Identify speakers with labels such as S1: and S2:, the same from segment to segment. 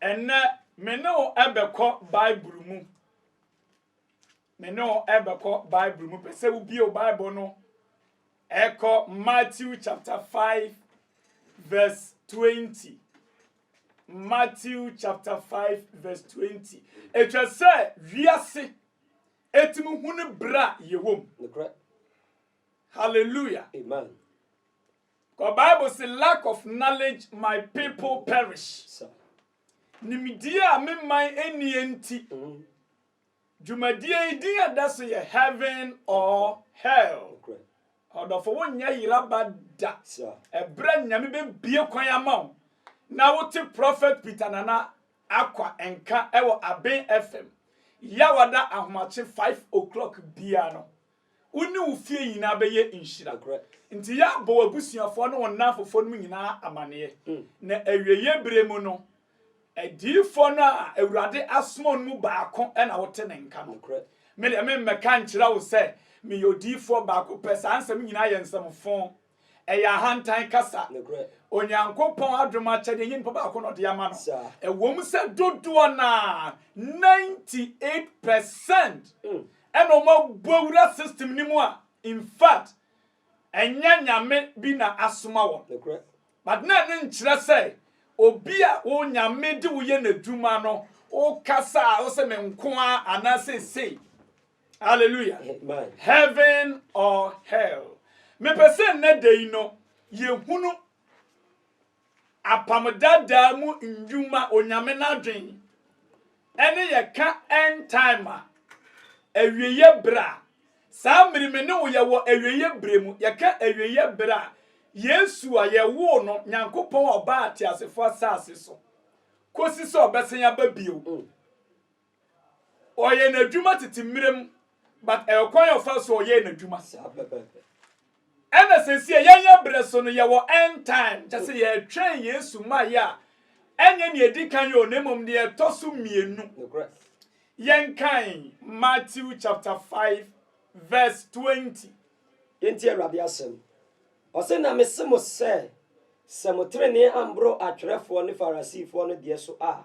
S1: Ɛnnɛ, me ne wo bɛkɔ Bible mu. Me ne wo bɛkɔ Bible mu. Pɛ sɛ wobie Bible no ɛkɔ Matthew chapter 5 verse 20. Matthew chapter 5 verse 20. Ɛtwa sɛ wiase ɛtumi hu no berɛ a yɛwɔ mu. Hallelujah. Amen. Kɔ bible se lack of knowledge my people perish nimdie a me man nnie nti dwumadie yi din a ɛda so yɛ heaven or hell ɔdɔfo wo nyɛ yera ba da ɛbrɛ nyame bɛ bie kwan ama wo na wo te prophet peter nana akwa nka ɛwɔ aben fm yawada ahomakye 5 o'clock bia no Wo ne wo fie nyinaa bɛyɛ nhyira. Enti yɛ abɔ w'abusuafoɔ ne wo nnamfofoɔ nom nyinaa amaneɛ, na awieeɛ berɛ mu no, adiyifoɔ no a Awurade asoma wo no mu baako na wote ne nka no. Me deɛ, meremmɛka nkyerɛ wo sɛ meyɛ odiyifoɔ baako pɛ, saa nsɛm yi nyinaa yɛ nsɛm fõ. Ɛyɛ ahantan kasa. Onyankopɔn adom akyɛde nye nipa baako na ɔde ama no. Ɛwom sɛ dodoɔ no ara, 98 percent, mm. ɛna wɔn abu awura system no mu a, in fact, ɛnyɛ nyame bi na asoma wɔn. But na ɛno nkyerɛ sɛ obi a wo nyame de woyɛ n'adwuma no, wokasa a wosɛ me nko ara anaasɛ sei. Hallelujah. Amen.
S2: Heaven
S1: or hell. Mepɛ sɛ nnɛ da yi no yɛhunu apam dadaa mu nnwuma onyame no adwen ɛne yɛka end time a awieyɛ berɛ a saa mmere me ne wo yɛwɔ awieyɛ berɛ mu yɛka awieyɛ berɛ a yesu a yɛwoo no nyankopɔn a ɔbaa ateasefoɔ asase so kɔsi sɛ ɔbɛsɛn aba bio mm. ɔyɛ n'adwuma tete mmerɛ mu but ɛkwan a ɔfa so ɔyɛ n'adwuma ɛna sɛsi a yɛnyɛ berɛ so no yɛwɔ end time kyɛ sɛ yɛtwɛn yesu mmaeɛ a ɛnyɛ nea ɛdi kan yɛ na mmom deɛ ɛtɔ so mmienu yɛnkan matthew chapter 5 verse 20 yɛnti awurade
S2: asɛm ɔse na mese mo sɛ sɛ mo tenenee amboro atwerɛfoɔ ne farisifoɔ no deɛ so a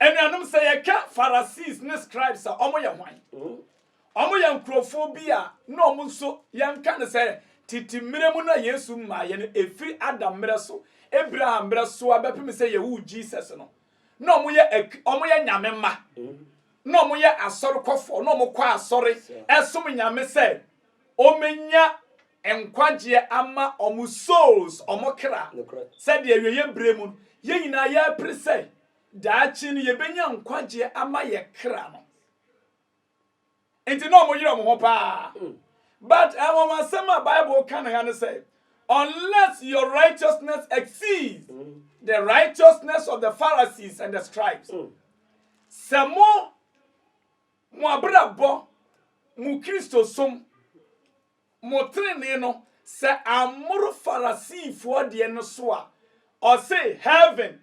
S1: Anuanom, sɛ yɛka Pharisees ne scribes a, wɔyɛ hwan? Wɔyɛ nkurɔfoɔ bi a na wɔn nso yɛnka no sɛ tete mmerɛ mu no a Yesu mmaeɛ no, ɛfiri Adam mmerɛ so, Abraham mmerɛ so a bɛpem sɛ yɛwoo Jesus no, na wɔyɛ, wɔyɛ nyame mma, na wɔyɛ asɔrekɔfoɔ, na wɔkɔ asɔre ɛsom nyame sɛ wɔmɛnya nkwagyeɛ ama wɔn souls, wɔn kra, Nokorɛ. sɛdeɛ awieɛ berɛ mu no, yɛn nyinaa yɛrepere sɛ daakye no yɛbɛnya nkwagyeɛ ama yɛ kra no. Nti na wɔn yere wɔn ho paa. But anwanwasɛm a Bible ka no ha ne sɛ, Unless your righteousness exceeds the righteousness of the Pharisees and the scribes. Sɛ mo, mo abrabɔ, mo Kristosom, Mo trenee no, sɛ ammoro Farasifoɔ deɛ no so a, ɔse, Heaven,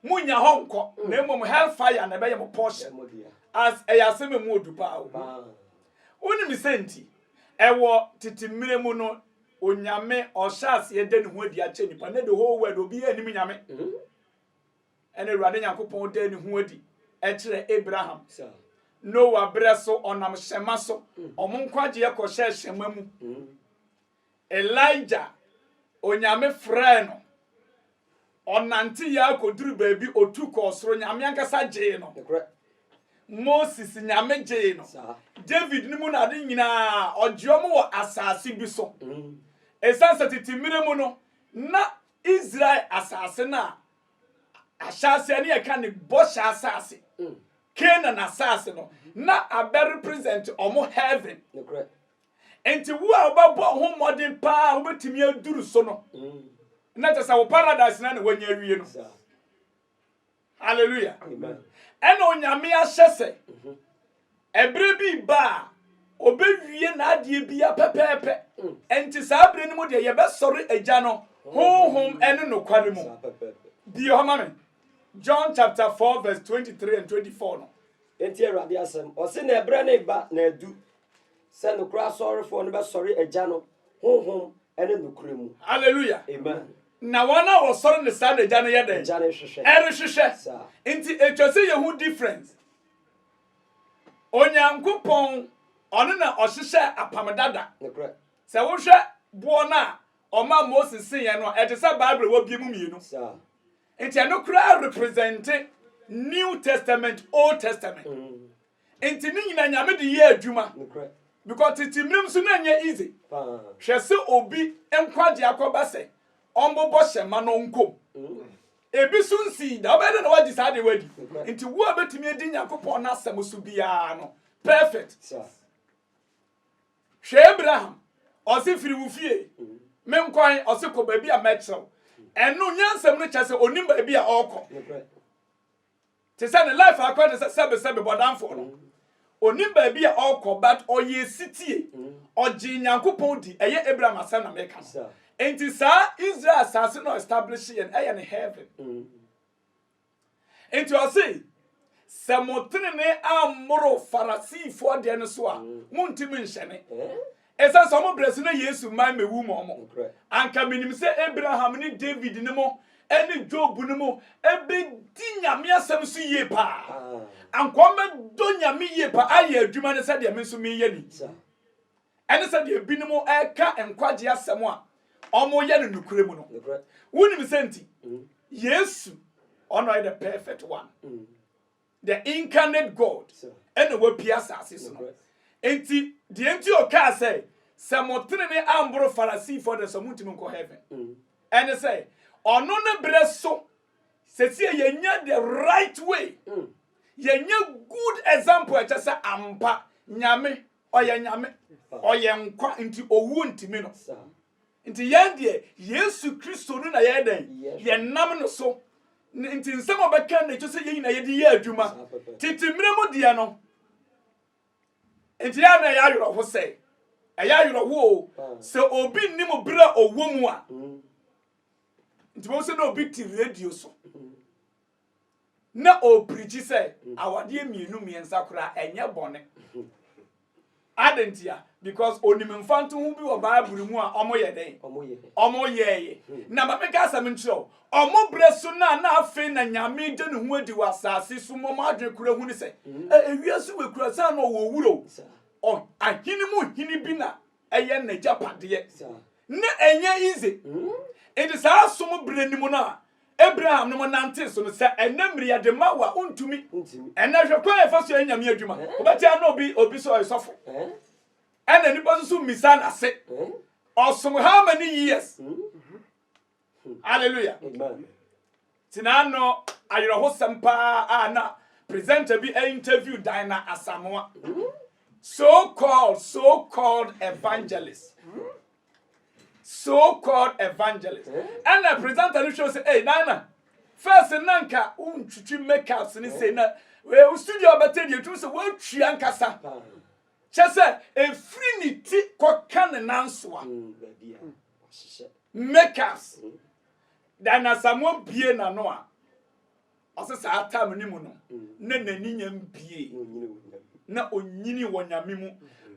S1: monnya hɔ nkɔ, na mmom Hellfire na ɛbɛyɛ mo portion. As, ɛyɛ asɛm a ɛmu ɔdu paa o. Wonim sɛ nti, ɛwɔ tete mmerɛ mu no, Onyame ɔhyɛɛ aseɛ da ne ho adi akyerɛ nnipa, na the whole world obiara nnim Nyame. Ɛnna Awurade Nyankopɔn daa ne ho adi kyerɛɛ Abraham. Noa berɛ so, ɔnam hyɛmma so. Wɔn nkwagyeɛ kɔhyɛɛ hyɛmma mu. Elijah, Onyame frɛɛ no. Ɔnanteeɛ ara kɔduru baabi, ɔtu kɔɔ soro, Nyame ankasa gyee no. Moses, Nyame gyee no. David no mu na ade nyinaa, ɔgye wɔn wɔ asase bi so. Ɛsiane sɛ tete mmerɛ mu no, na Israel asase no a ahyɛase a ne yɛka ne bɔhyɛ asase mm. canaan asase no mm-hmm. na abɛ represent ɔmo heaven nti wo a wobɛbɔ ho mmɔden paa wobɛtumi aduru so no mm. na kyɛ sɛ wo paradise na na wanya awie no halleluya ɛna onyame ahyɛ sɛ mm-hmm. Ɛberɛ bi reba a ɔbɛwie n'adeɛ biara pɛpɛɛpɛ. Enti saa berɛ no mu deɛ yɛbɛsɔre Agya no Honhom ne nokware mu. Bue hɔ ma me, John chapter 4 verse 23 and 24 no. Yɛntie Awurade
S2: asɛm. Ɔse, Na ɛberɛ no reba, na adu, sɛ nokorɛ asɔrefoɔ no bɛsɔre Agya no Honhom ne nokorɛ mu. Hallelujah. Amen.
S1: Na
S2: wɔn a
S1: wɔsɔre no saa na Agya no yɛ dɛn? Agya no rehwehwɛ. Ɛrehwehwɛ.
S2: Saa.
S1: Enti ɛtwa sɛ yɛhu difference. Onyankopɔn, ɔno na ɔhyehyɛɛ apam dada. Nokorɛ. Sɛ
S2: wohwɛ
S1: boɔ no a ɔmaa Moses siiɛ no a, ɛte sɛ Bible a wɔabue mu mmienu. Saa.
S2: Nti ɛno
S1: koraa represente New Testament, Old Testament. Mm. Nti ne nyina Nyame de yɛɛ adwuma. Nokorɛ. Because tete mmerɛ mu so na ɛnyɛ easy. Paa. Hwɛ sɛ obi nkwagyeɛ akɔba sɛ ɔmbobɔ hyɛma na ɔnkɔ mu. Mm. Ebi nso nsii da. Wobɛyɛ dɛ na woagye saa adeɛ wadi. Nti wo a bɛtumi adi Nyankopɔn n'asɛm so biara no, perfect. Hwɛ Abraham, ɔse firi wo fie, mm. menkwan, ɔse kɔ baabi a mɛkyerɛw. Ɛno nyansɛm no kyerɛ sɛ onim baabi a ɔrekɔ. Te sɛ ne life akɔ te sɛ sɛbe sɛbe bɔdamfoɔ no. Ɔnim baabi a ɔrekɔ but ɔyɛɛ sitie. Ɔgyee Nyankopɔn di, ɛyɛ Abraham asɛm na meka no. Enti saa Israel asase no a ɔestablishee no ɛyɛ ne heaven. Enti ɔse, sɛ mo tenenee ammoro Farasifoɔ deɛ no so a, montim nhyɛne. Esiane sɛ wɔn brɛ so na Yesu mmae mmewu mo mo, anka minim sɛ Abraham ne David ne mo ne Job ne mo bedi Nyame asɛm so yie paa. Anka wɔbɛdɔ Nyame yie paa ayɛ adwuma no sɛdeɛ me nso meyɛ no yi. Ɛne sɛdeɛ ebinom reka nkwagye asɛm a wɔyɛ no nokorɛ mu no. Wonim sɛ nti? Yesu, ɔno ɔyɛ the perfect one. The Incarnate God na wapue asase so no. Enti, deɛ nti ɔkaa sɛ, sɛ mo tenene amboro Farasifoɔ deɛ nso montumi nkɔ heaven. Ɛne sɛ, ɔno ne berɛ so, sɛsie yɛnya the right way, yɛnya good example ɛkyɛ sɛ ampa Nyame, ɔyɛ Nyame, ɔyɛ nkwa, nti owuo ntimi no. Nti yɛn deɛ, Yesu Kristo no na yɛyɛ dɛn? Yɛnam no so. Nti nsɛm a ɔbɛka no na ɛkyɛ sɛ yɛn nyinaa yɛde yɛ adwuma. Tete mmerɛ mu deɛ no, nti yɛn na ɛyɛ awerɛho sɛ, ɛyɛ awerɛho o, sɛ obi nnim berɛ a ɔwɔ mu a, nti bɛhu sɛ na obi te radio so. na ɔreprikyi sɛ awadeɛ mmienu mmiɛnsa koraa ɛnyɛ bɔne. Adɛn ntia? Because onim mfantoho bi wɔ Bible mu a wɔyɛ dɛn? Wɔyɛeɛ. Na ma meka asɛm nkyerɛ wo, wɔn berɛ so no a na afei na Nyame da ne ho adi wɔ asase so ma wɔn adwene kora hu ne sɛ, ewiase wei kura saa na ɔwɔ wura o, ahene mu hene bi na ɛyɛ n'agyapadeɛ na ɛnyɛ easy nti saa som berɛ no mu no a Abraham no mo nante so no sɛ ɛnɛ mmiri yɛde ma wo a wontumi ɛnɛ hwɛ kwan ɛfa so yɛ nyame adwuma wobɛkyɛ na obi obi sɛ ɔyɛ sɔfo ɛna nipa soso mmisa n'ase ɔsom how many years Hmm. Hallelujah. Amen. Tina no ayerɛhosɛm paa a na presenter bi interview Dina Asamoah. Hmm. So called, so called evangelist. Hmm. So called evangelist. And the presenter no show say, hey, Dina, first nanka untwitwi makeups ni say na wo studio abɛtɛ deɛ ɛtumi sɛ woatwi ankasa kyɛ sɛ ɛfiri ne ti kɔka ne nansoa makers da na Samuel bie n'ano a ɔsɛ saa tam no mu no na n'ani nya mbie na onyini wɔ nyame mu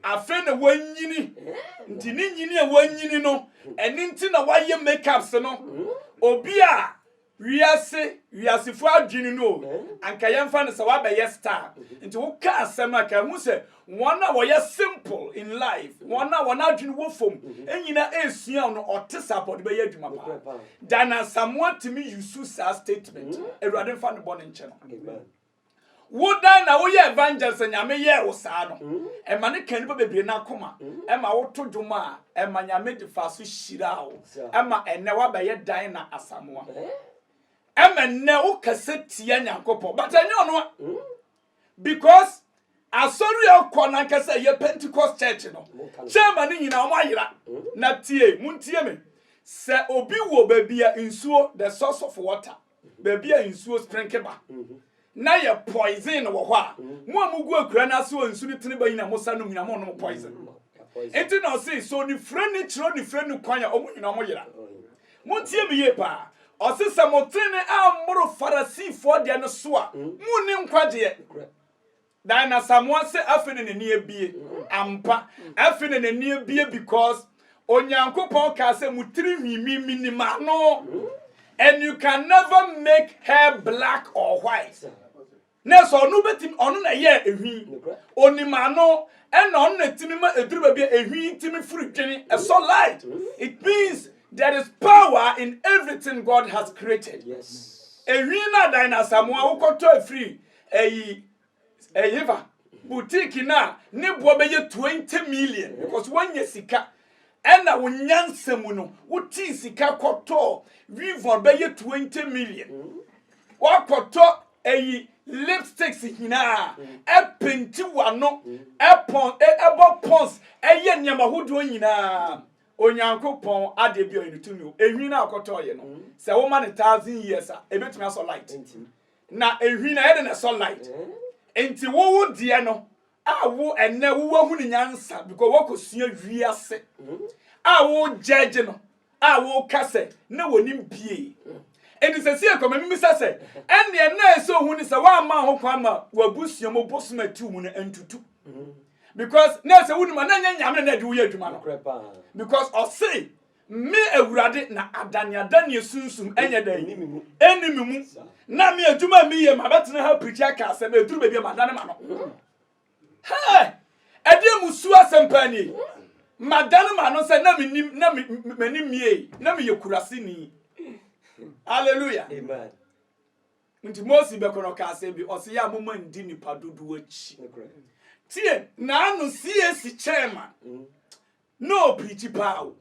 S1: afei na wanyini nti ne nyini a wanyini no ɛne nti na wayɛ makeups no obi a Wiase wiasefo adwene no o, anka yɛmfa no sɛ woabɛyɛ star, nti woka asɛm a, ka hu sɛ wɔn a wɔyɛ simple in life, wɔn a wɔn adwene wɔ fam, nyina ɛresua wo no, ɔte saa paa, ɔde bɛyɛ adwuma paa. Dan Asamoah tumi use saa statement no, Awurade mfa ne bɔne nkyɛ no. Wo dan na wo yɛ evangelist a nyame yɛɛ wo saa no ɛma no ka nipa bebree na akoma ɛma wo to dwom a ɛma nyame de fa so hyira wo ɛma ɛnɛ wa bɛyɛ dan na asamoa ɛma ɛnɛ wo kɛsɛ tia nyankopɔ but ɛnyɛ ɔno a because asɔre a ɔkɔ na nkɛsɛ yɛ pentecost church no chairman no nyina ɔmo ayera na tie mu ntie me sɛ obi wɔ baabi a nsuo the source of water baabi a nsuo sprenke ba na yɛ poison wɔ hɔ a mm. mo a mogu akura no ase wɔ nsu no tene ba nyina mo sa nom nyina mo nom poison mm. nti na ɔse sɛ ɔnifire ne kyerɛ ɔnifire ne kwan a ɔmo nyina ɔmo yera oh, montie me yie paa ɔse sɛ motene ammoro farasifoɔ deɛ no so a mm. monni nkwagyeɛ Than Asamoah sɛ afei na n'ani abie. Ampa. Afei na n'ani abie because Onyankopɔn kaa sɛ mo tiri hwimi menim ano. And you can never make hair black or white. Na ɛsɛ ɔno bɛtumi ɔno na ɛyɛ ehwi. Onim ano ɛna ɔno na ɛtumi ma ɛduru baabi a ehwi tumi firi dwene ɛsɔ light. It means there is power in everything God has created. Ehwi
S2: no adan
S1: na Asamoah wokɔtɔ ɛfiri Eyi, ɛhefa boutique no a ne boɔ bɛyɛ twenty million because woanya sika ɛna wo nyansa mu no wotii sika kɔtɔɔ weavon bɛyɛ twenty million woakɔtɔ eyi lipsticks nyinaa ɛpenti wano ɛpɔn ɛbɔ pons ɛyɛ nneɛma hodoɔ nyinaa onyankopɔn adeɛ bi ɔyɛ no tumi o enwi no a ɔkɔtɔɔyɛ no sɛ woma no thousand years a ebetumi asɔ light Na nhwi na yɛde na ɛsɔ light. Nti wo wo deɛ no a wo ɛnɛ wo wahu ne nyansa because wakɔsua wiase a wo gyɛgye no a wo ka sɛ na wɔnim pie. Nti sɛ si ɛkɔma mimisa sɛ ɛnneɛ na ɛsɛ ohu ne sɛ woamma ho kwan ma wabusua mu bosom atiw mu no ntutu. Because na ɛsɛ wonim a na ɛnyɛ nyame na ɛde woyɛ adwuma no. Because ɔse Me, Awurade, na adaneada ne asunsum ɛnyɛ dɛn? Ɛnni me mu. Na me adwuma a meyɛ mabɛtena ha pirikyi aka asɛm, ɛduru baabi a madane ma no. Hɛ! Ɛdeɛ musuo asɛm paa nie. Madane ma no sɛ na menim, na m'ani mmie, na meyɛ kuraseni. Hallelujah. Amen.
S2: Nti
S1: Mose bɛkɔ no ɔka asɛm bi, ɔse yɛ a moma ndi nipa dodoɔ akyi. Tie, naano CAC chairman, mm. Na ɔpreakyi paa o.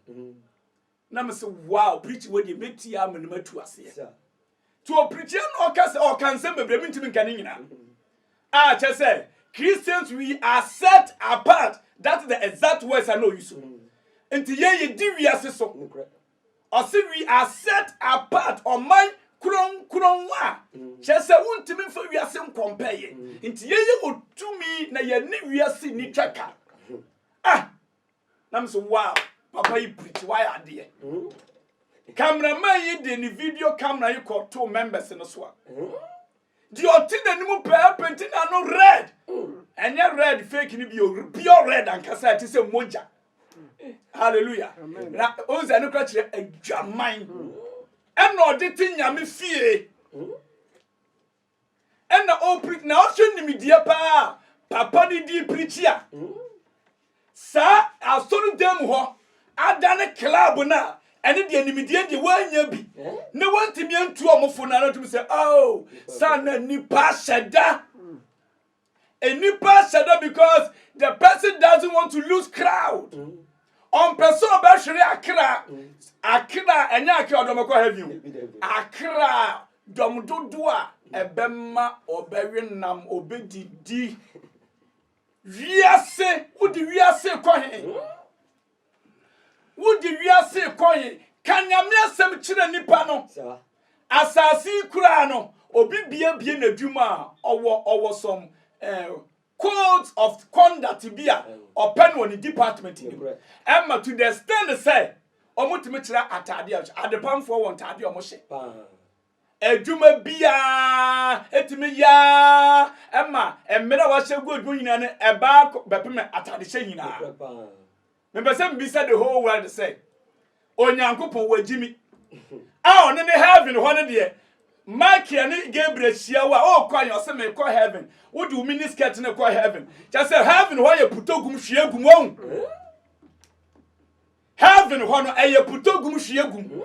S1: Na me se wow preakyi wei deɛ mɛtie ara m'anim atu aseɛ. Nti ɔpreakyi a na ɔka sɛ ɔka nsɛm bebree mentumi nka ne nyinaa. A kyɛ sɛ Christians we are set apart that is the exact words a na ɔyi so. Nti yɛn yɛdi wiase so. Ɔse we are set apart ɔman kronkron a kyɛ sɛ wontumi mfa wiase nkɔmpɛ yɛn. Nti yɛyɛ wɔ tumi na yɛne wiase nni twaka. ah na me sɛ wow papa yi preach wayɛ adeɛ cameraman yi de ne video camera yi kɔ to members no so a deɛ ɔte n'anim pɛɛ penti n'ano red ɛnyɛ red fake no bi o pure red ankasa ɛte sɛ mogya hallelujah na ɔn sɛ ɛno kora kyerɛ adwaman ɛna ɔde te nyame fie ɛna ɔpirikyi na ɔhwɛ nimdeɛ paa a papa no di pirikyi a saa asɔredan mu hɔ adane club no a ɛne deɛ nimdeɛ deɛ wɔanya bi na wɔntumi antu wɔn fo no ara tumi sɛ oh saa na nipa hyɛ da Nnipa hyɛ da because the person doesn't want to lose crowd. Mm. ɔmpɛ sɛ ɔbɛhwere akra mm. akra ɛnyɛ akra ɔdɔm ɛkɔ heavy o akra dɔm dodo a ɛbɛma ɔbɛwe nam ɔbɛdidi wiase wode wiase kɔ he mm. Wode wiase rekɔe, ka Nyame asɛm kyerɛ nipa no. Asase yi koraa no, obi biabie n'adwuma a, ɔwɔ ɔwɔ some eh, codes of conduct bi a ɔpɛ no wɔ ne department no mu. Ɛma to the extent sɛ, wɔtumi kyerɛ ataade a wɔhyɛ. Adepamfoɔ wɔ ntaade a wɔhyɛ. Adwuma biara tumi yɛ ara ma mmere a wɔahyɛ gu adwuma nyinaa no ɛba ara kɔ bɛpem atadehyɛ nyinaa. Mepɛ sɛ mibisa the whole world sɛ, Onyankopɔn wagye mi a ɔno ne heaven hɔ no deɛ, Michael ne Gabriel hyia wo a ɔrekɔ ayɛ ɔsɛ mekɔ heaven, wode wo mini skirt no kɔ heaven. Kyɛ sɛ heaven hɔ yɛ putogum hwiegum wɔn. Heaven hɔ no ɛyɛ putɔ gum hwie gum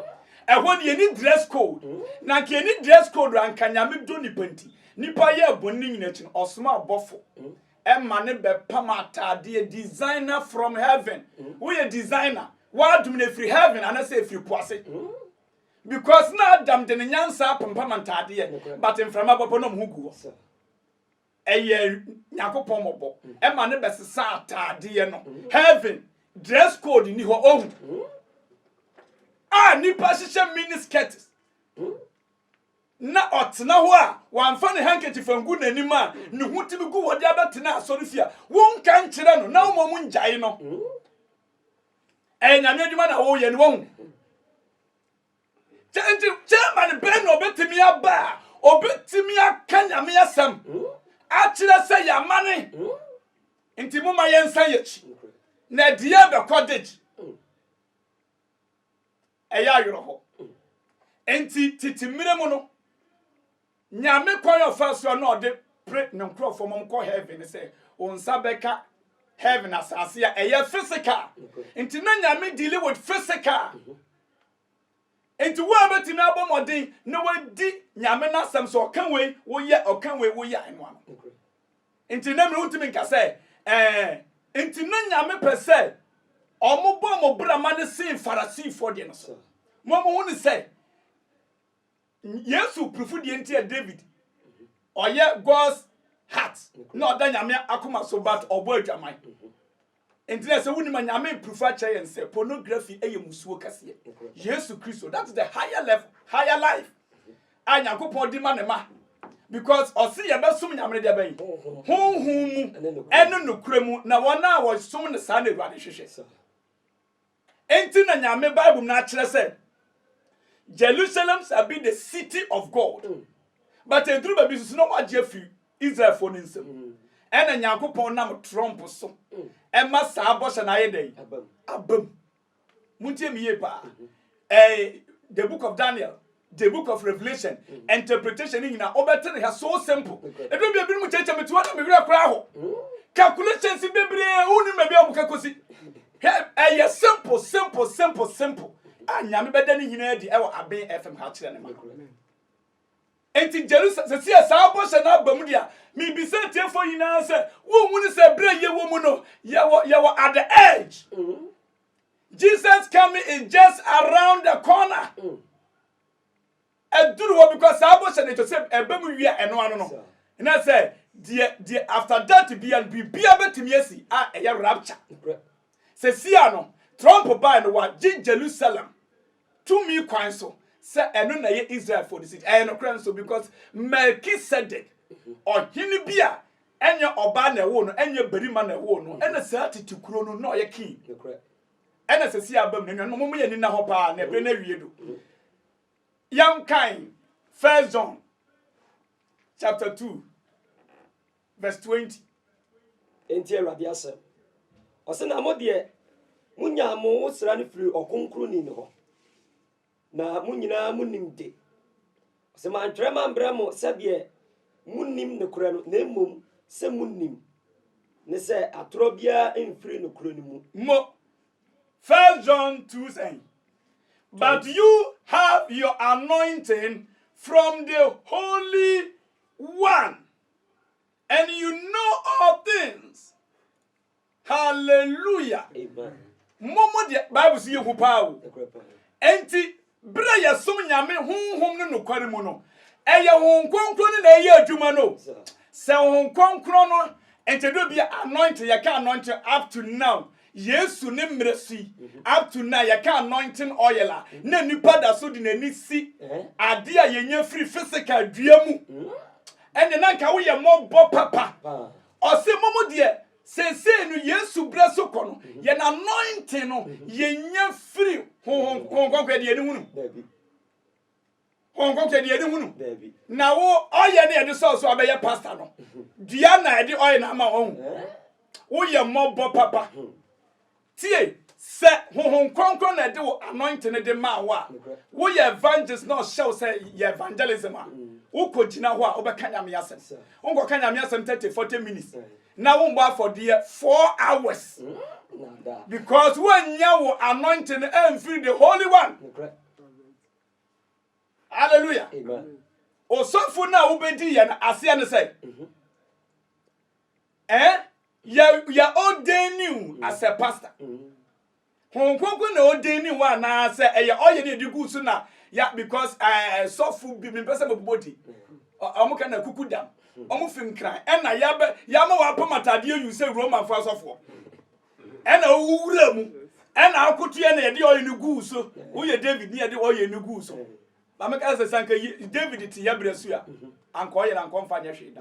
S1: ɛhɔ no yɛni dress code na nka yɛni dress code a nka nyame dɔ nipa nti nipa yɛɛ bɔne no nyina akyi no ɔsoma ɔbɔfo ɛma ne bɛ pam ataadeɛ designer from heaven woyɛ designer w'adom no ɛfiri heaven anasɛ ɛfiri po ase because na Adam de ne nyansa apempam ntaadeɛ but mframa bɔbɔ na ɔmo ho gu hɔ. ɛyɛ nyankopɔn mɔbɔ ɛma ne bɛsesa ataadeɛ no heaven dress code ni hɔ ohu a nipa hyehyɛ mini skirts na ɔtena hɔ a wamfa ne handkerchief angu n'anim a ne ho tumi gu wɔde abɛtena asɔre fie a wonka nkyerɛ no na woma mu ngyae no ɛyɛ nyame adwuma na woyɛ no wahu Kyɛ nti chairman bɛn na ɔbɛtumi aba a ɔbɛtumi aka nyame asɛm akyerɛ sɛ yɛamane nti moma yɛnsan yɛkyi na ɛdeɛ bɛkɔ degye ɛyɛ awerɛhɔ nti tete mmerɛ mu no Nyame kwan a ɔfa so a na ɔde pre ne nkorɔfoɔ ma wɔkɔ heaven ne sɛ wo nsa bɛka heaven asase a ɛyɛ physical nti na Nyame deal with physical nti wo a bɛtumi abɔ mmɔden na wadi Nyame n'asɛm sɛ ɔka wei woyɛ ɔka wei woyɛ ɛno ano nti na mmerɛ wontumi nka sɛ ɛɛ nti na Nyame pɛ sɛ ɔmo bɔ ɔmo brama ne sen farasifoɔ deɛ no so mo ɔmo ho ne sɛ Yesu prefo deɛ nti a David ɔyɛ God's heart na ɔda nyame akoma so but ɔbɔ adwaman nti na sɛ wonim a nyame prefo akyerɛ yɛn sɛ pornography ɛyɛ musuo kɛseɛ Yesu Kristo that is the higher level higher life a Nyankopɔn di ma ne ma because ɔse yɛbɛsom nyame no deɛ bɛn honhom mu ɛne nokorɛ mu na wɔn a wɔsom no saa na awurade hwehwɛ Enti na Nyame Bible no akyerɛ sɛ Jerusalem shall be the city of God. Mm. But eduru baabi nso na wɔagye afi Israelfoɔ no nsam. Mm. Ɛna Nyankopɔn nam Trump so mm. ɛma saa bɔhyɛ no ayɛ dɛn? Abam. Montie me yie paa. Mm-hmm. Eh, the book of Daniel The Book of Revelation interpretation ne nyinaa wobɛte ne ha so simple ɛduru bia binom kyɛkyɛ me toa na me werɛ koraa ho calculations bebree wonim baabi a wɔka kɔsi hwɛ ɛyɛ simple simple simple simple a nyame bɛda ne nyinaa adi ɛwɔ aben fm ha kyerɛ ne ma enti jerusalem sɛ sɛ saa bɔhyɛ no aba mu deɛ mebisa atiefoɔ nyinaa sɛ wonhunu sɛ berɛ yɛwɔ mu no yɛwɔ yɛwɔ at the edge mm -hmm. Jesus coming is just around the corner. Mm. Ɛduru hɔ because saa bɔhyɛ no ɛkyɛ sɛ ɛbɛ mu wia ɛno ano no. Na sɛ deɛ deɛ after that bia no biribia bɛtumi asi a ɛyɛ rapture. Sɛ sia no Trump bae no wagye Jerusalem. tumi kwan so sɛ ɛno na ɛyɛ Israelfoɔ no sidi. Ɛyɛ nokorɛ nso because Melchizedek, ɔhene bi a ɛnyɛ ɔbaa na ɛwoo no, ɛnyɛ barima na ɛwoo no, ɛna saa tete kuro no na ɔyɛ king. Ɛna sɛ si aba mu na nnuanom mo yɛ nina hɔ paa na ɛbɛn awie do. Yɛnkan First John chapter 2 vs 20. Enti
S2: Awurade asɛm. Ɔse na mo deɛ mo nyaa mo nwosra no firi ɔkronkroni no hɔ, na mo nyinaa mo nim de. Ɔse mantwerɛ mambrɛ mo sɛdeɛ mo nim nokorɛ no, na mmom sɛ mo nim, ne sɛ atorɔ biara mfiri nokorɛ no mu. Mo,
S1: First John two sɛn? But you have your anointing from the Holy One. and you know all things hallelujah
S2: mo mo deɛ
S1: bible si yɛ hu paa o nti bere a yɛsom nyame honhom no nokware mu no ɛyɛ honhom kronkron no na ɛyɛ adwuma no sɛ honhom kronkron no nti do bi anointing yɛka anointing up to now Yesu ne mmerɛ so yi up to now yɛka anointing oil a na nipa da so de n'ani si adeɛ a yɛnya firi physical dua mu ɛne na nka woyɛ mmɔbɔ papa ɔse mo mu deɛ seesei no Yesu berɛ so kɔ no yɛn anointing no yɛnya firi honhom kɔnkɔn deɛ ani hunu Pɔnkɔ kɛ deɛ yɛde hunu na wo ɔyɛ ne yɛde sɔɔ so abɛyɛ pasta no dua na ɛde ɔyɛ na ama ɔhu woyɛ mmɔbɔ papa tie sɛ honhom kronkron na ɛde wo anointing no de maa wo a woyɛ evangelist na ɔhyɛ wo sɛ yɛ evangelism a wokɔ gyina hɔ a wobɛka nyame asɛm wonkɔka nyame asɛm 30 40 minutes na wombɔ afɔdeɛ 4 hours because woannya wo anointing no amfiri the holy one Hallelujah. Amen.
S2: Osɔfo
S1: no a wobedi yɛn aseɛ no sɛ mhm. eh, yɛ yɛ ordaining mhm. as a pastor. Mhm. Hon kronkron na ordaining wo anaasɛ ɛyɛ ɔyɛ ne ɛde gu so na ya because eh, sɔfo bi mempɛ sɛ mabobɔ di ɔmo ka na kuku dam ɔmo fim kran ɛna yɛama wɔapam atadeɛ yu sɛ romanfoɔ asɔfoɔ Ɛna owu wura mu. Ɛna akoto yɛ na yɛde ɔyɛ no guu so. Woyɛ David ne yɛde ɔyɛ no guu so. Na meka sɛ sɛ anka David te yɛ berɛ so a, anka ɔyɛ no anka ɔmfa nyɛ hwee da.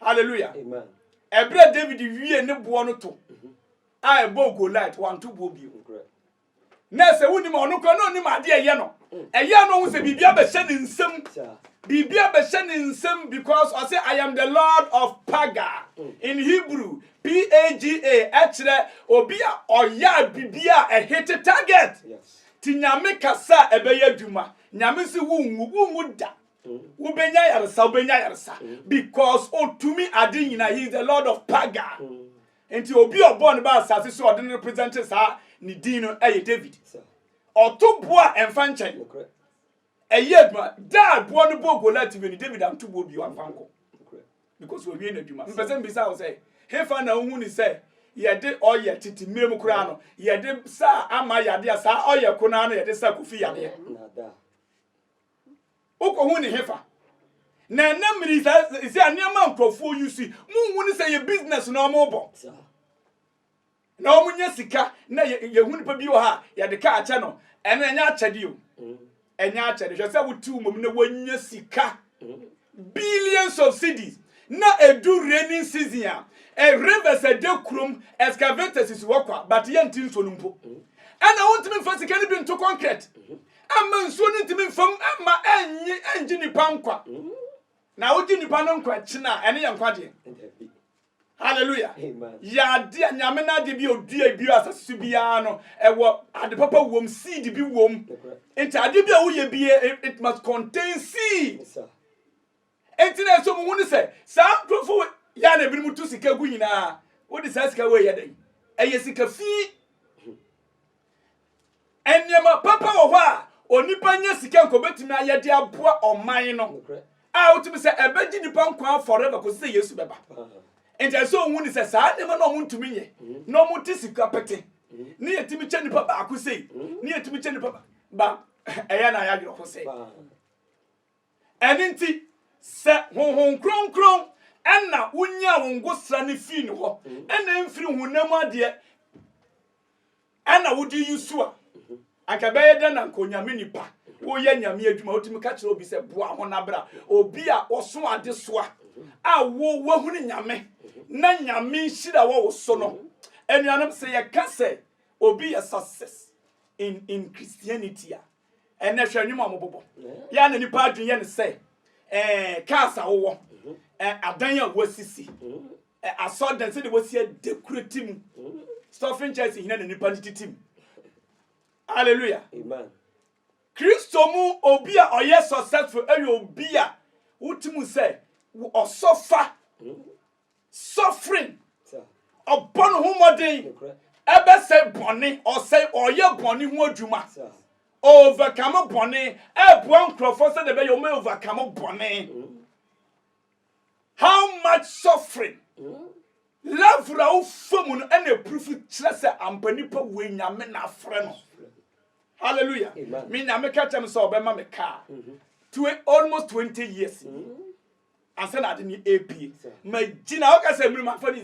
S1: Hallelujah. Ɛberɛ
S2: David
S1: wie ne boɔ no to a ɛbɔɔ Goliath, wanto boɔ bio. Na sɛ wonim a, ɔno koraa na onim ade a ɛyɛ no. Ɛyɛ a na ohu sɛ biribi abɛhyɛ ne nsam. Biribi abɛhyɛ ne nsam because ɔsɛ I am the Lord of Paga. In Hebrew, P-A-G-A, ɛkyerɛ obi a ɔyɛ a biribi a ɛhete target. Ti Nyame
S2: kasa
S1: a ɛbɛyɛ adwuma. Nyame se wonwu, wonwu da. Wobɛnya yaresa, wobɛnya yaresa. Because otumi ade nyinaa, he is the Lord of Paga. Enti obi a ɔbɔɔ no baa asase so a ɔde no represente saa ne din no yɛ David. Ɔto boɔ a ɛmfa nkyɛn. Ɛyɛ adwuma. Da a boɔ no bɔɔ Goliat wie no, David anto boɔ bio amfa nkɔ. Because wawie n'adwuma. Mepɛ sɛ mbisa wo sɛ, hefa na wohu ne sɛ yɛde ɔyɛ tete mmerɛ mu koraa no, yɛde saa ama yadeɛ a saa ɔyɛ ko no ara na yɛde sa Kofi yadeɛ? Wokohu ne hefa? Na ɛnɛ mmiri saa sɛ nneɛma nkurɔfoɔ yi si muhu ne sɛ yɛ business na wɔn bɔ na wɔn nyɛ sika na yɛhu nipa bi wɔ ha a yɛde ka akyɛ no ɛno ɛnyɛ akyɛde o ɛnyɛ akyɛde hwɛ sɛ wote wɔn mu na wɔnyɛ sika billions of cities na edu raining season a eh, rivers ɛda kurom excavators si hɔ kwa but yɛnte nsuo no mpo ɛna wontumi mfa sika no bi nto concrete Ɛmma nsuo no ntumi mfa mu ɛmma ɛnye ɛngye nipa nkwa. Na wogye nipa no nkwa akyi no a ɛne yɛ nkwagyeɛ. Hallelujah.
S2: Yɛade a nyame
S1: no adeɛ bi odua bi asase so biara no ɛwɔ ade papa wom seed bi wom. Nti adeɛ bi a woyɛ bi it must contain seed. Enti na ɛsɔ mu hunu sɛ saa nkurɔfo yi a na ebinom tu sika gu nyinaa, wode saa sika wei yɛ dɛn? Ɛyɛ sika fi. Nneɛma papa wɔ hɔ a onipa nya sika nka obetumi ayɛ de aboa ɔman no a wotumi sɛ ɛbɛgye nipa nkwa forever kɔsi sɛ Yesu bɛba. Enti ɛsɛ ohun ne sɛ saa nneɛma na wɔntumi nyɛ na wɔte sika pete ne yɛtumi kyɛ nipa baako sei ne yɛtumi kyɛ nipa ba ɛyɛ na ayɛ awerɛhosɛ. Ɛno nti, sɛ Honhom Kronkron na wonyaa wo ngosra no fii ne hɔ, na ɛmfiri honam adeɛ na wode yi so a, anka ɛbɛyɛ dɛn na anka onyame nipa woyɛ nyame adwuma wotumi ka kyerɛ obi sɛ boa ho na bra obi a ɔso ade so a a wo wahunu nyame na nyame nhyira wɔ wo so no anuanom sɛ yɛka sɛ obi yɛ success in in christianity a ɛnɛ hwɛ nnwom a wɔbobɔ yɛ na nipa adwene yɛ no sɛ ɛɛ cars a wowɔ mhm. ɛɛ adan a wɔasisi mhm. ɛɛ asɔdan sɛdeɛ wɔsi adekurati mu mhm. stuffing chairs hina na nipa no titi mu hallelujah
S2: kristo
S1: mu obi a ɔyɛ successful ɛyɛ obi a wotimu sɛ ɔsɔfa Suffering. Ɔbɔ ne ho mmɔden. Ɛbɛsɛe bɔne. Ɔsɛe, ɔyɛ bɔne ho adwuma. Overcome bɔne. Ɛboa nkurɔfoɔ sɛdeɛ ɛbɛyɛ wɔn overcome bɔne. Mm. How much suffering? Mm. Level a wofa mu no ɛna epurufu kyerɛ sɛ ampa nipa wei nyame na afrɛ no. Hallelujah. Me nyame ka kyerɛ me sɛ ɔbɛma me kaa. Mm-hmm. Almost 20 years. Mm. ansa na ade no ɛpie magyina hɔ ka sɛ mmiri mafa ni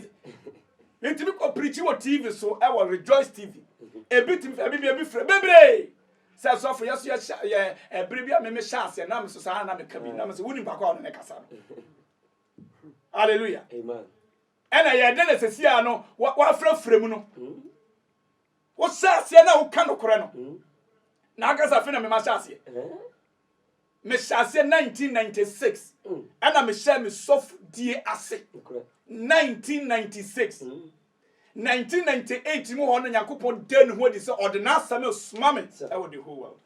S1: metumi kɔ pirikyi wɔ tv so ɛwɔ rejoice tv ebi tumi fɛ bibia bi frɛ bebree sɛ sɔfo yɛ so yɛ ɛbere bi a meme hyɛ aseɛ na meso saa na meka bi na mesɛ wonim baako a ɔne ne kasa no halleluya
S2: ɛna yɛ dɛ
S1: na sɛsi a no wafrɛfrɛ mu no wohyɛ aseɛ na woka nokorɛ no na akasa fe na mema hyɛ aseɛ Mehyɛ aseɛ nineteen ninety six ɛna mehyɛ me sɔfodie ase nineteen ninety six nineteen ninety eight mu hɔ no Nyankopɔn da ne ho adi sɛ ɔde n'asɛm resoma me ɛwɔ the whole world.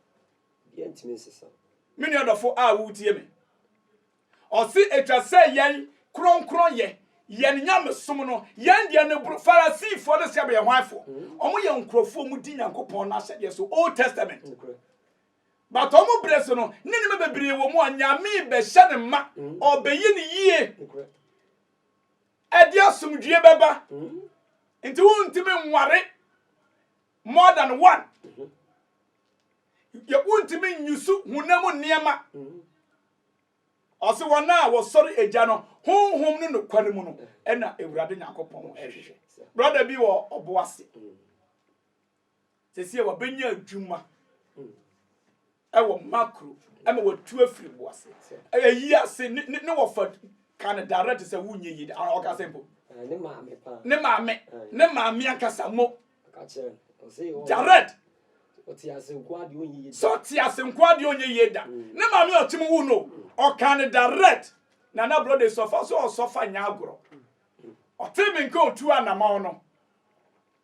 S2: Me nua dɔfo a
S1: wotie me, ɔse atwa sɛ yɛn kronkron yɛ yɛn nyamesom no yɛn deɛ no boro Farisifoɔ no sɛ bɛyɛ hwanfoɔ? Wɔn yɛ nkurɔfoɔ a wɔdi Nyankopɔn n'ahyɛdeɛ so Old Testament. But ɔmo brɛ so no na nneɛma bebree wɔ mu a Nyamee bɛhyɛ no ma, ɔɔbɛyɛ no yie. Ɛde asomdwie bɛba. Nti wontumi nware more than one. Yɛ wontumi nyusu honam nneɛma. Ɔse wɔn a wɔsɔre agya no honhom no nokware mu no ɛna Awurade Nyankopɔn ɛhwehwɛ. Brɔda bi wɔ ɔbo ase. Seesei wabɛnya adwuma wɔ macro ma watu afiri bo ase. Ɛyi ase ne ne wɔfa ka no direct sɛ wonyɛ yie a ɔka sɛ mpo. Ne maame paa.
S2: Ne maame. Ne
S1: maame ankasa mo. Ɔka
S2: kyerɛ no. Ɔse yɛ direct. Ɔte ase nko adeɛ
S1: onyɛ yie da. Sɛ ɔte ase nko adeɛ onyɛ yie da. Ne maame ɔte mu wu no. Ɔka no direct. Na na brɔda sɔfa so ɔsɔfa nyɛ agorɔ. Ɔte me nka otu anamɔn no.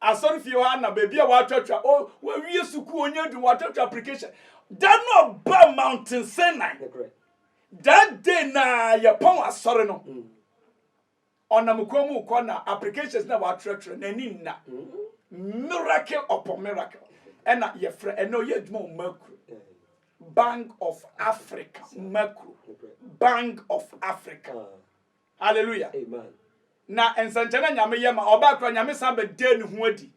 S1: Asɔrefie hɔ ara na baabi a wɔatwatwa, o, wɔawie sukuu, wɔanya adwuma, wɔatwatwa application. Da no a ɔbaa Mountain Sinai, that day na yɛpɔn asɔre no. Mm. Ɔnam kwan mu kɔ na applications na wɔatwerɛtwerɛ n'ani nna. Mm. Miracle upon miracle. Ɛna yɛfrɛ ɛnna ɔyɛ adwuma wɔ Mercury. Bank of Africa, Mercury. Bank of Africa. Ah. Hallelujah! Amen.
S2: Na nsɛnkyerɛnne
S1: a Nyame yɛ ma ɔbaa koraa, Nyame san bɛdaa ne ho adi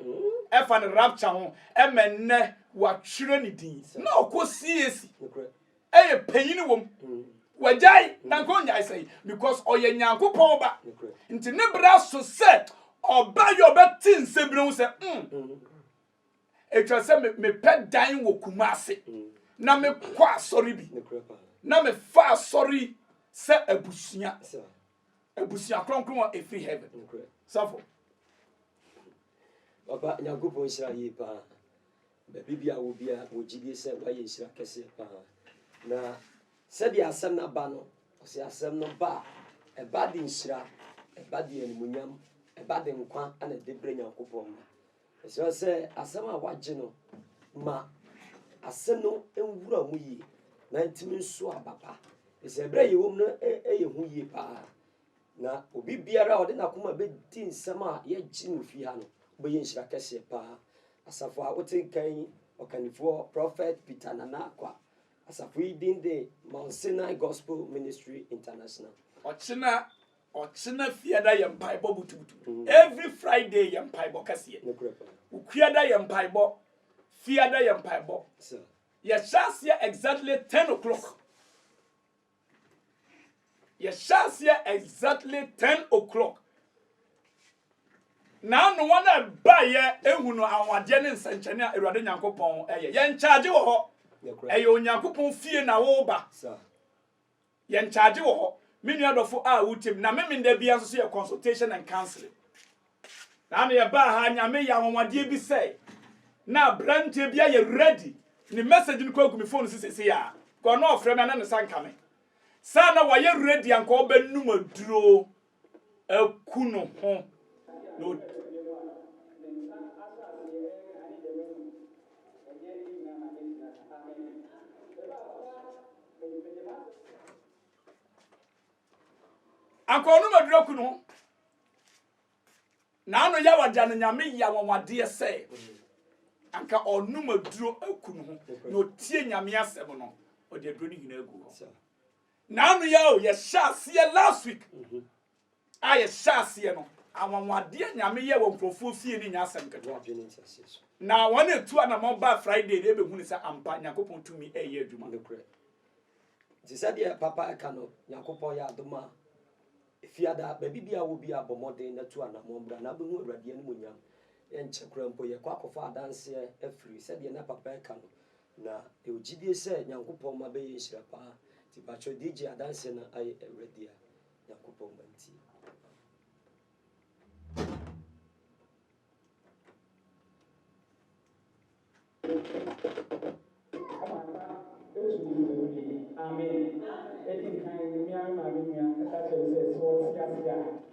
S1: ɛfa ne rapture ho ɛma ɛnnɛ wɔatwerɛ ne din. Na ɔkɔ CAC, Nokorɛ. ɛyɛ panyini wɔ mu. Wagyae, na anka ɔnnyae sɛn, because ɔyɛ Nyankopɔn Ba. Nokorɛ. Nti ne berɛ aso sɛ ɔbɛyɛ, ɔbɛte nsɛm binom ho sɛ, mm, Ɛtwa sɛ mepɛ dan wɔ Kumase na mekɔ asɔre bi na mefa asɔre sɛ abusua abusua kronkron a ɛfiri heaven safo
S2: Papa Nyankopɔn nhyira yie paa baabi bi a wɔ bi a wɔgye die sɛ woayɛ nhyira kɛseɛ paa na sɛdeɛ asɛm no aba no ɔsɛ asɛm no ba a ɛba de nhyira ɛba de animuonyam ɛba de nkwa ana ɛde berɛ Nyankopɔn ma Ɛsɛ sɛ asɛm a wɔagye no ma ase no nwura mu yie na atumi nso aba pa, efisɛ bere a yɛwɔ mu no yɛ hu yie paa. Na obi biara a ɔde n'akoma bɛdi nsɛm a yɛgye no fi ha no, wobɛyɛ nhyira kɛseɛ paa. Asafo a wote nka yi ɔkannifoɔ Prɔfɛt Peter Nana Akwa. Asafo yi din de Mount Sinai Gospel Ministry International. Ɔkyena
S1: Ɔkyena fiada yɛ mpaebɔ butubutu every Friday yɛ mpaebɔ kɛseɛ Okuada yɛ mpaebɔ fiada yɛ mpaebɔ Yɛhyɛ aseɛ exactly ten o'clock Yɛhyɛ aseɛ exactly ten o'clock Na ano wɔn a ɛbaeɛ ehu no anwadeɛ ne nsɛnkyɛnne a Awurade Nyankopɔn ɛyɛ Yɛn kyaagye wɔ hɔ ɛyɛ Onyankopɔn fie na woba Yɛn charge wɔ hɔ, me nua dɔfo a wutie me, na Memenda biara nso so yɛ consultation and counseling. Saa na yɛbaa ha, Nyame yɛ anwanwadeɛ bi sɛ na abranteɛ bi ayɛ ready, ne message no kura gu me phone so seesei a, nka ɔno ɔfrɛ me a na ne sa nka me, sɛ na wayɛ ready anka ɔbɛnom aduro. aku no ho na Akɔnɔ maduru aku no ho na ano yɛ wagya no nyame yɛ awanwadeɛ sɛ anka ɔnom aduro aku no ho na ɔtie nyame asɛm no ɔde aduro no nyinaa agu hɔ Naanu yi a o yɛhyɛ aseɛ last week a yɛhyɛ aseɛ no anwanwadeɛ nyame yɛ wɔ nkurɔfoɔ fie no nyɛ asɛm ketewa na wɔn etu anamɔ ba Friday no ebehu ne sɛ ampa Nyankopɔn tumi ɛyɛ adwuma. Nokorɛ.
S2: Nti sɛdeɛ papa ɛka no Nyankopɔn yɛ adom a efiada baabi bi a wɔ bi a bɔ mmɔden na tu anamɔ bra na wobɛhu Awurade animuonyam yɛnkyɛ koraa mpo yɛkɔ akɔfa adanseɛ afiri sɛdeɛ na papa ɛka no Na yɛwɔ gyidie sɛ Nyankopɔn mma bɛyɛ nhyira paa, nti mpakyɛw deɛ gye adanseɛ na ayɛ Awura dea, Nyankopɔn mma nti. Amen.
S3: Amen. Edi kan, me nua me maame nua ka kyerɛ me sɛ, sɛ ɔte ase a.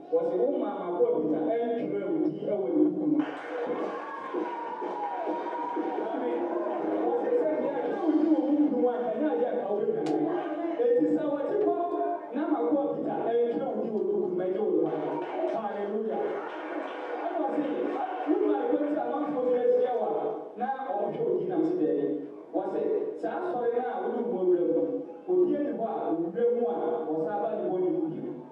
S3: Wɔse wo maa mako abita ɛntwerɛ wo din wɔ ne book mu. Maame, wɔse sɛ deɛ ɛtwerɛ wo din wɔ book no mu a nka ɛnyɛ adeɛ a nka wobɛdwane. Enti sɛ wɔte hɔ na mako abita ɛntwerɛ wo din wɔ book no mu a ɛnyɛ wo kwa. Hallelujah. Ɛna wɔse wo maa ɛkwan sɛ amanfoɔ bi ahyia wo a na wɔhwɛ
S2: wo din nam se daabi. Wɔse saa asɔre no a wode wo ho awura mu no, obiara nni hɔ a ɔwura mu a ɔsan ba ne bɔne mu bio.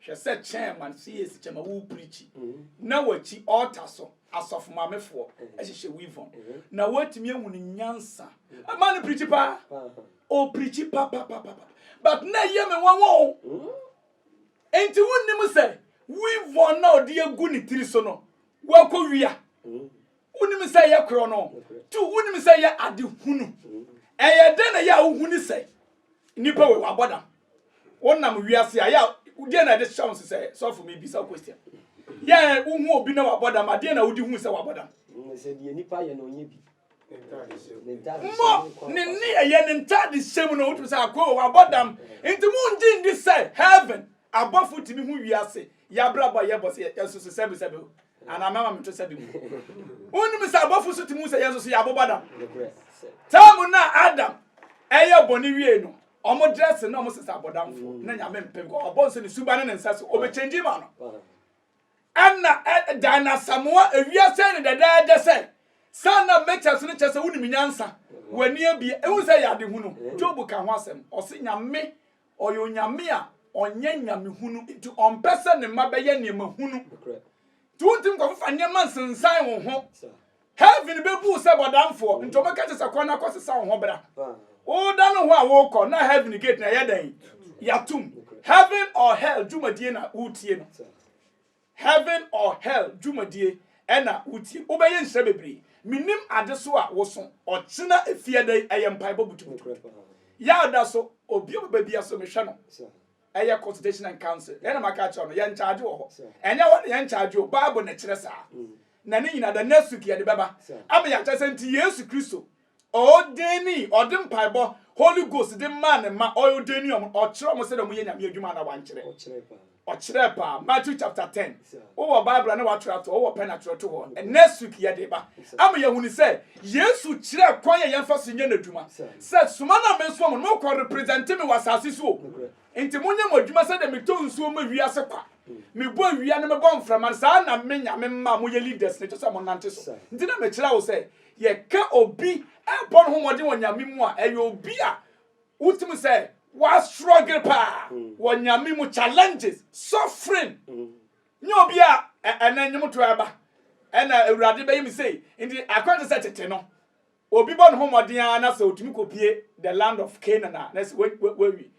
S1: Hwɛ sɛ chairman CAC chairman wo preachi na wakyi altar so asɔfo maame foɔ ɛhyehyɛ weave on na watumi ahu ne nyansa ma no preachi paa o preachi papapapa but na ɛyɛ me nwanwa o enti wo nim sɛ weave on na ɔde agu ne tiri so no wakɔ wia wonim sɛ yɛ korɔ no to wonim sɛ yɛ ade hunu ɛyɛ dɛn na yɛ a wohu ne sɛ nnipa wei wabɔ dam wonam wiase a yɛ a deɛ na ɛde hyɛ wo sɛ sɔfo mebisa wo question yɛ a wohu obi na wabɔ dam adeɛ na wode hu sɛ wabɔ dam
S2: mmɔ
S1: ne ne ɛyɛ ne ntade hyɛ mu na wotumi sɛ akoo wabɔ dam nti mu ngye ndi sɛ heaven abɔfo tumi hu wiase yɛabrabɔ a yɛbɔ sɛ yɛsoso sɛbesɛbe Anaa mɛma meto sɛ bem. Wonnim sɛ abɔfo so te mu sɛ yɛn nso so yɛ abobɔdam. Taa mu na Adam ɛyɛ bɔne wiei no, ɔmo dress na ɔmo sesa abɔdamfo na nyame mpɛ because ɔbɔ nso ne suba ne ne nsa so ɔbɛ change ma no. Ɛna ɛdan asamoa ewia sɛ ne dɛdɛɛdɛ sɛ saa na mɛkyɛ so no kyɛ sɛ wonim nyansa w'ani abie ehu sɛ yɛ ade hunu Job ka ho asɛm ɔse nyame Ɔyɛ Onyame a ɔnyɛ nyamehunu, enti ɔmpɛ sɛ ne mma bɛyɛ nneɛma hunu. Enti wontumi nkɔfefa nneɛma nsensan wo ho. Heaven bebu wo sɛ bɔdamfoɔ, nti wɔbɛka kyerɛ sɛ kɔ na kɔsesa wo ho bra. Wodane wo ho a wokɔ na heaven gate no ɛyɛ dɛn? Yɛatom. Heaven or hell dwumadie na woretie no. Heaven or Hell dwumadie ɛna wotie. Wobɛyɛ nhyira bebree. Menim ade so a woso. Ɔkyena efiada yi ɛyɛ mpaebɔ butubutubutu. Yaw da so. Obi a ɔbɛba biara so mehwɛ no. Ɛyɛ consultation and counsel. Deɛ na maka akyerɛ wo no, yɛnkyagye wɔ hɔ. Ɛnyɛ hɔ na yɛnkyagye o, Bible na ɛkyerɛ saa. Na ne nyinaa, the next week yɛde bɛba ama yɛakyerɛ sɛ nti Yesu Kristo Ɔɔdɛɛnii, ɔde mpaebɔ, Holy Ghost de maa ne mma, ɔɔdɛɛnii wɔn, ɔkyerɛɛ wɔn sɛdeɛ wɔn yɛ Nyame adwuma anaa wɔankyerɛ? Ɔkyerɛɛ paa. Ɔkyerɛɛ paa. Matthew chapter ten. Wowɔ Bible a na watwerɛ ato hɔ, wowɔ pɛn atwerɛ to hɔ. Next week yɛde ba. Ama yɛahunu sɛ Yesu kyerɛɛ kwan a yɛmfa so nyɛ n'adwuma. Sɛ soma no a mesoma mo no, mokɔ represente me wɔ asase so o. Nti monyɛ mo adwuma sɛdeɛ metɔ nsuo ma wiase kwa, mebɔ awia na mebɔ mframa no, saa na me Nyame mma a moyɛ leaders no kyɛ sɛ monante so. Nti na mekyerɛ wo sɛ Yɛka obi bɔ no ho mmɔden wɔ Nyame mu a, ɛyɛ obi a wotumi sɛ wa struggle paa wɔ Nyame mu, challenges, suffering. Nyɛ obi a ɛnɛ nnwomtoɔ aba ɛna Awurade bɛyɛ me sei. Nti akwankyerɛ sɛ tete no, obi bɔ ne ho mmɔden ara na sɛ otumi kɔpie the land of Canaan a na sɛ wawi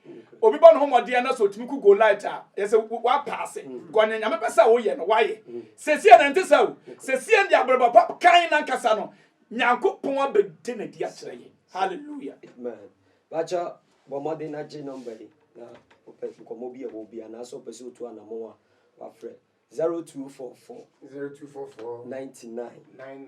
S1: obi bɔ ne ho mmɔden na sɛ ɔtumi ku Goliath a yɛ sɛ wapaase mm. kɔ ne nyame pɛ sɛ woyɛ no wayɛ mm. sɛsiɛ na ɛnte sɛ o sɛsiɛ de abrɛbɔ pa kan no ankasa no nyankopɔn abɛde no adi akyerɛ yɛ halleluya
S2: bakyɛ bɔ mmɔden no agye nɔmba yi na wopɛ nkɔmmɔ bi a ɛwɔ bi anaasɛ wopɛ sɛ wotu anamɔ a wafrɛ 0244 0244 99